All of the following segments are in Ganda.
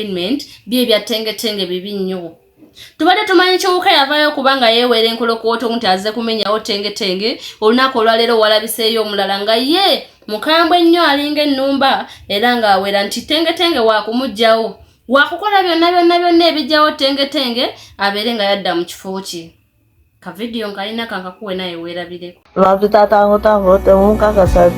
entertainment bye ebyatengetenge bibi nnyo tubadde tumanyi kiwuka yavaayo kubanga yeeweera enkolokooto nti azze kumenyawo tengetenge olunaku olwaleero walabiseeyo omulala nga ye mukambwe nnyo alinga ennumba era ng'awera nti tengetenge waakumuggyawo waakukola byonna byonna byonna ebijjawo tengetenge abeere nga yadda mu kifo kye ka video nkalina kankakuwe naye weerabireko lwaki tatango tango temunkakasa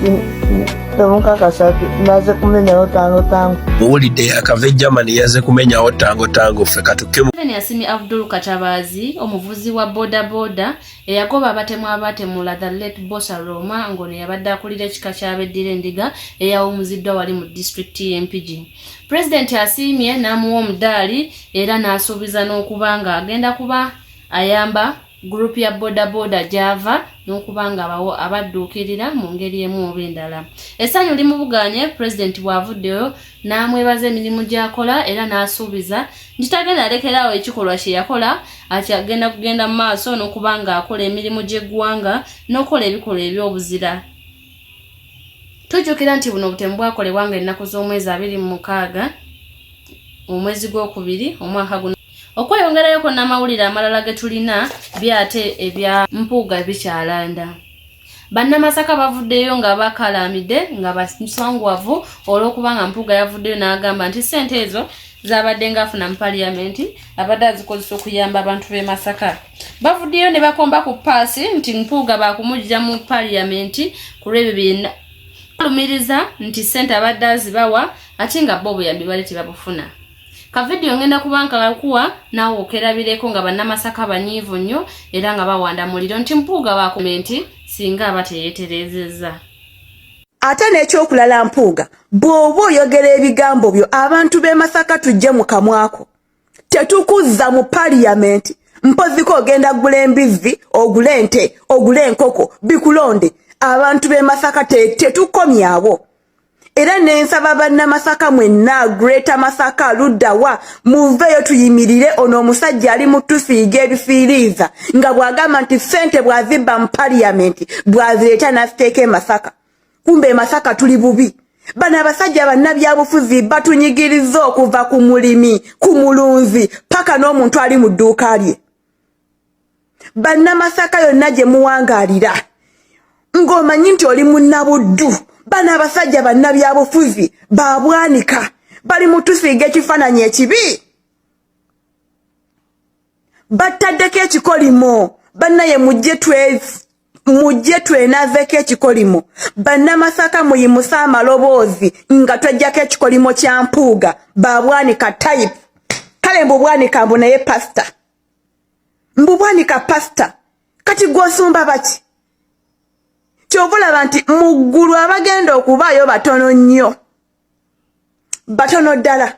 temunkakasa naze kumenyawo tango tango muwulidde akave germany yaze kumenyawo tango tango ffe katukemu ben yasimi abdul katabazi omuvuzi wa boda boda eyagoba abatemu abatemula the late bosa roma ngono yabadde akulira ekika kyabeddira endiga eyawumuziddwa wali mu disitulikiti y'empigi e pulezidenti asiimye n'amuwa omudaali era n'asuubiza n'okuba ng'agenda kuba ayamba gurupu ya bodaboda gyava n'okuba nga abawo abadduukirira mu ngeri emu oba endala essanyu limubuganye pulezidenti bw'avuddeyo n'amwebaza emirimu gy'akola era n'asuubiza nti tagenda alekeraawo ekikolwa kye yakola ati agenda kugenda mu maaso n'okuba ng'akola emirimu gy'eggwanga n'okukola ebikolwa eby'obuzira tujjukira nti buno obutemu bwakolebwa nga ennaku z'omwezi abiri mu mukaaga omwezi gw'okubiri omwaka guno Okweyongerayoko n'amawulire amalala ge tulina byate ebya mpuuga bikyalanda. Bannamasaka bavuddeyo nga bakalaamidde nga basangwavu olw'okuba nga mpuuga yavuddeyo n'agamba nti ssente ezo zabadde ngaafuna mu paliyamenti abadde azikozesa okuyamba abantu b'e Masaka. Bavuddeyo ne bakomba ku paasi nti mpuuga baakumuggya mu paliyamenti ku lw'ebyo byena balumiriza nti ssente abadde azibawa ate nga bo obuyambi bali tebabufuna. ka vidiyo ngenda kuba nkakuwa naawe okerabireko nga bannamasaka banyiivu nnyo era nga bawanda muliro nti mpuuga bakume nti singa aba teyeeterezezza ate n'ekyokulala mpuuga bw'oba oyogera ebigambo byo abantu b'e masaka tujje mu kamwako tetukuzza mu paliyamenti mpoziko ogenda gula embizzi ogule ente ogule enkoko bikulonde abantu b'e masaka tetukomyawo era nensaba bannamasaka mwenna greater masaka luddawa muveeyo tuyimirire ono omusajja ali mu tusiiga ebifiiriiza nga bw'agamba nti ssente bw'azibba mu paliyamenti bw'azireeta n'aziteeka emasaka kumba emasaka tuli bubi bano abasajja bannabyabufuzi batunyigiriza okuva ku mulimi ku mulunzi paka n'omuntu ali mu dduuka lye bannamasaka yonna gye muwangaalira ng'omanyi nti oli munnabuddu bano abasajja bannabyabufuzi babwanika bali mutusiiga ekifaananyi ekibi battaddeko ekikolimo bannaye mujje mujje twenazeeko ekikolimo bannamasaka muyimuse amaloboozi nga twejjako ekikolimo kya mpuuga babwanika type kale mbu bwanika mbu naye pasita mbu bwanika pasita kati gwosumba baki kyova olaba nti mu ggulu abagenda okubaayo batono nnyo batono ddala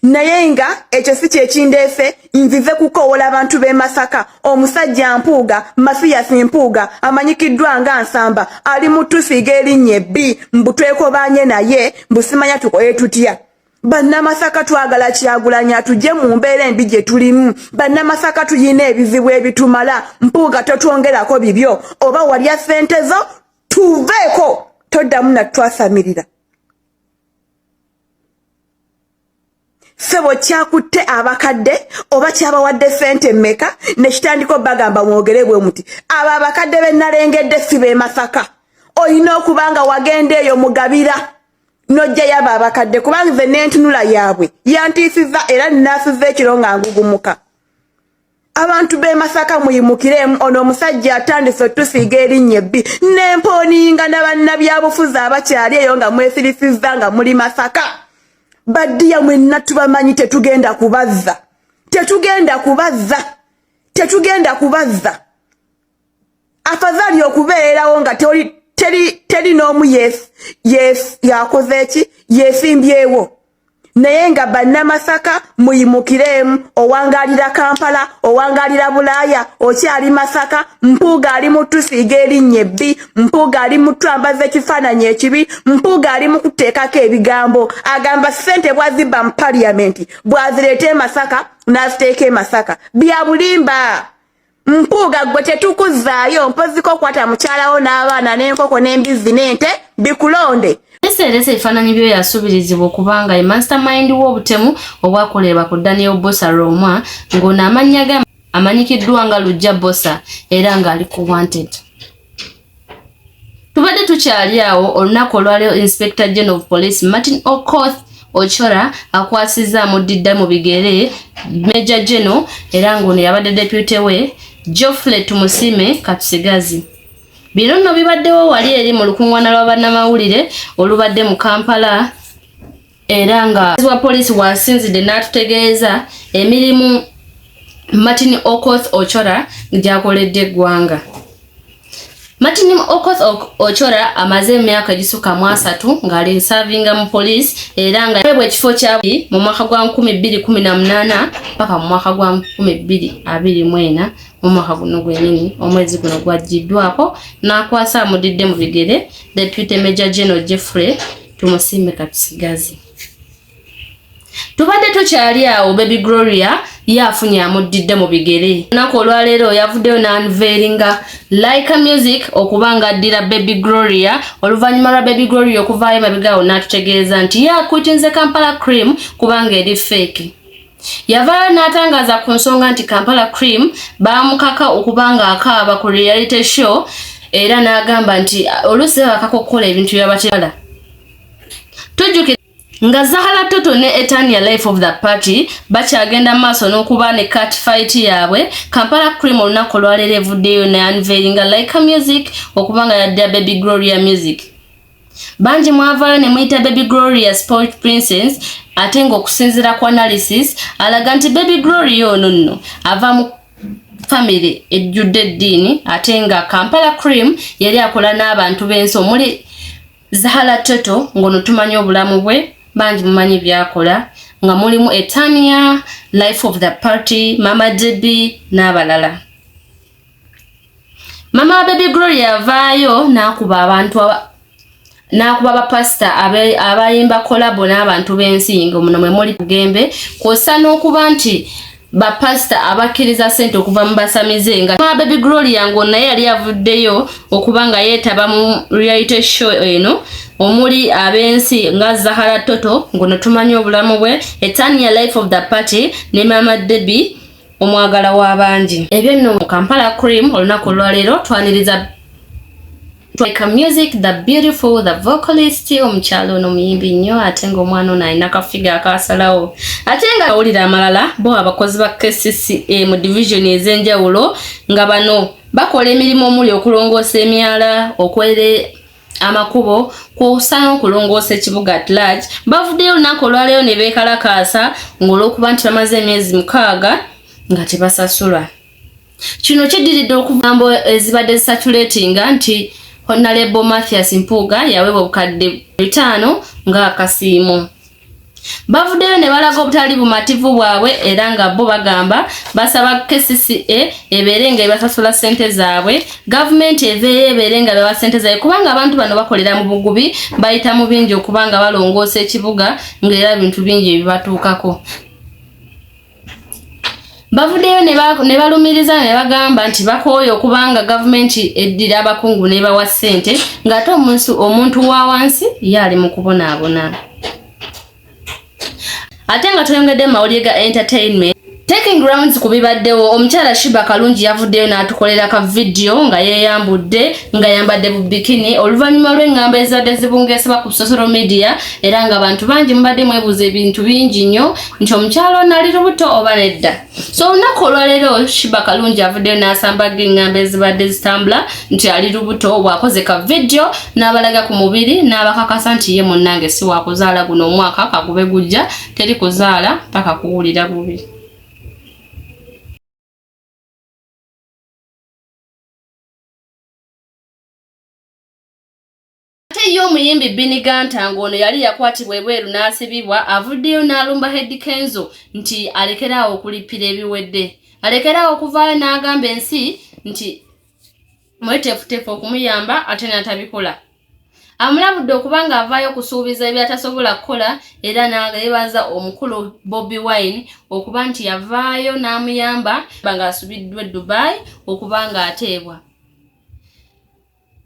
naye nga ekyo si kyekindeese nzize kukoowola abantu b'e masaka omusajja mpuuga masiyasi mpuuga amanyikiddwa nga nsamba ali mu tusiiga erinnya ebbi mbu twekobaanye naye mbusimanya tukoye tutya Bannamasaka twagala kyagulanyi atujje mu mbeera embi gye tulimu. Bannamasaka tulina ebizibu ebitumala. Mpuuga totwongerako bibyo. Oba walya ssente zo tuveeko toddamu natutwasamirira. Sebo kyakutte abakadde oba kyabawadde ssente mmeka ne kitandiko bagamba mwogere bwe muti. Abo abakadde be nnalengedde si b'e Masaka. Olina okuba nga wagenda eyo mugabira. nojja yaba abakadde kubanga nze nentunula yaabwe yantiisiza era nnaasiza ekiro nga ngugumuka abantu b'e masaka muyimukiremu ono omusajja atandise otusiiga erinnya ebbi n'empooninga na bannabyabufuzi abakyali eyo nga mwesirisizza nga muli masaka baddiya mwenna tubamanyi tetugenda kubazza tetugenda kubazza tetugenda kubazza afadhali okubeerawo nga toli teri teri n'omu yakoze eki yeesimbyewo naye nga bannamasaka muyimukireemu owangaalira kampala owangaalira bulaaya okyali masaka mpuuga ali mu tusiiga erinnya ebbi mpuuga ali mu twambaza ekifaananyi ekibi mpuuga ali mu kuteekako ebigambo agamba ssente bwazibba mu paliyamenti bwazireeta e masaka n'aziteeka e masaka bya bulimba mpuuga gwe tetukuzaayo mpoziko okwata mukyalawo n'abaana n'enkoko n'embizzi n'ente bikulonde eseeresa ebifaananyi byo yasuubirizibwa okuba nga ye mastermind w'obutemu obwakolerwa ku daniel bosa romwa ng'ono amannya ge amanyikiddwa nga lujja bosa era ng'ali ku wanted tubadde tukyali awo olunaku olwaleo inspector general of police martin okoth ochora akwasiza amuddidda mu bigere major general era ng'ono yabadde depute we joffle tumusime katusigazi bino nno bibaddewo wali eri mu lukung'wana lwa bannamawulire olubadde mu kampala era nga wa poliisi wasinzidde n'atutegeeza emirimu martin okoth ochora gyakoledde eggwanga martin okoth ochora amaze emyaka egisuka mu asatu ng'ali nsavinga mu poliisi era nga ebwa ekifo kya mu mwaka gwa 218 paka mu mwaka gwa 224 mu mwaka guno gwenyini omwezi guno gwajjiddwako n'akwasa amudidde mu bigere deputy major general jeffrey tumusiime katusigaze tubadde tukyali awo baby gloria ye afunye amuddidde mu bigere olunaku olwaleero yavuddeyo nanveeringa like music okuba nga addira baby gloria oluvannyuma lwa baby gloria okuvaayo mabigaawo n'atutegeeza nti ye akuitinze kampala cream kubanga eri feeki Yavaayo n'atangaza ku nsonga nti Kampala Cream baamukaka okuba ng'akaaba ku reality show era n'agamba nti oluusi babakaka okukola ebintu byabateala tujjukira nga Zahara Toto ne Etania Life of the Party bakyagenda maaso n'okuba ne cat fight yaabwe Kampala Cream olunaku olwaleero evuddeyo ne unveilinga Laika Music okuba nga yadda Baby Gloria Music bangi mwavaayo ne muyita baby gloria sport princess ate ng'okusinziira ku analysis alaga nti baby gloria ono nno ava mu famire ejjudde eddiini ate nga kampala cream yali akola n'abantu b'ensi omuli zahala toto ng'ono tumanyi obulamu bwe bangi mumanyi byakola nga mulimu etania life of the party mama jb n'abalala mama wa baby gloria yavaayo n'akuba abantu n'akuba bapasita abayimba kolabo n'abantu b'ensingo muno mwe muli kugembe kwosa n'okuba nti bapasita abakkiriza sente okuva mu basamize nga ma baby gloria ngo naye yali avuddeyo okuba nga yeetaba mu reality show eno omuli ab'ensi nga zahara toto ngono tumanyi obulamu bwe etania life of the party ne mama debbie omwagala w'abangi ebyo nno mu kampala cream olunaku olwaleero twaniriza Like music the beautiful the vocalist omukyalo ono muyimbi nnyo ate nga omwana ono alina kafiga akasalawo ate nga awulira amalala bo abakozi ba kcca mu division ez'enjawulo nga bano bakola emirimu omuli okulongoosa emyala okwere amakubo kwosa n'okulongoosa ekibuga at large bavuddeyo olunaku olwaleero ne beekalakaasa ng'olwokuba nti bamaze emyezi mukaaga nga tebasasulwa kino kiddiridde okugambo ezibadde zisatuletinga nti honalebo mathias mpuuga yaweebwa obukadde bitaano ng'akasiimo bavuddeyo ne balaga obutali bumativu bwabwe era nga bo bagamba basaba kcca ebeere nga ebasasula ssente zaabwe gavumenti eveeyo ebeere nga bewa ssente zaabwe kubanga abantu bano bakolera mu bugubi bayita mu bingi okubanga balongoosa ekibuga ng'era bintu bingi ebibatuukako bavuddeyo ne balumiriza ne bagamba nti bakooye okubanga gavumenti eddira abakungu n'ebawa ssente ng'ate omunsi omuntu wa wansi ye ali mu kubonaabona ate nga tweyongedde mu mawulire ga entertainment taking grounds ku bibaddewo omukyala shiba kalungi yavuddeyo n'atukolera ka vidiyo nga yeeyambudde nga yambadde bu bikini oluvannyuma lw'eŋŋamba ezadde zibungeesebwa ku social media era nga bantu bangi mubadde mwebuuza ebintu bingi nnyo nti omukyalo ono ali lubuto oba nedda so olunaku olwaleero shiba kalungi avuddeyo n'asambaga engamba ezibadde zitambula nti ali lubuto bwakoze ka vidiyo n'abalaga ku mubiri n'abakakasa nti ye munnange si wakuzaala guno omwaka kagube gujja teri kuzaala paka kuwulira bubi Ate ye omuyimbi Bini Ganta ng'ono yali yakwatibwa ebweru n'asibibwa avuddeyo n'alumba Hedi Kenzo nti alekeraawo okulippira ebiwedde alekeraawo okuvaayo n'agamba ensi nti mweteefuteefu okumuyamba ate n'atabikola amulabudde okuba ng'avaayo okusuubiza ebyatasobola kukola era n'ageebaza omukulu Bobi Wine okuba nti yavaayo n'amuyamba bang'asubiddwa e Dubai okuba ng'ateebwa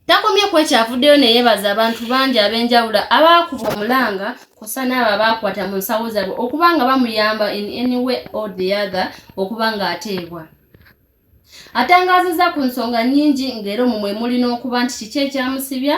Takomye ku ekyo avuddeyo ne yeebaza abantu bangi ab'enjawulo abaakuba omulanga kw'ossa n'abo abaakwata mu nsawo zaabwe okuba nga bamuyamba in any way or the other okuba ng'ateebwa. Atangaazizza ku nsonga nnyingi ng'era omwo mwe muli n'okuba nti kiki ekyamusibya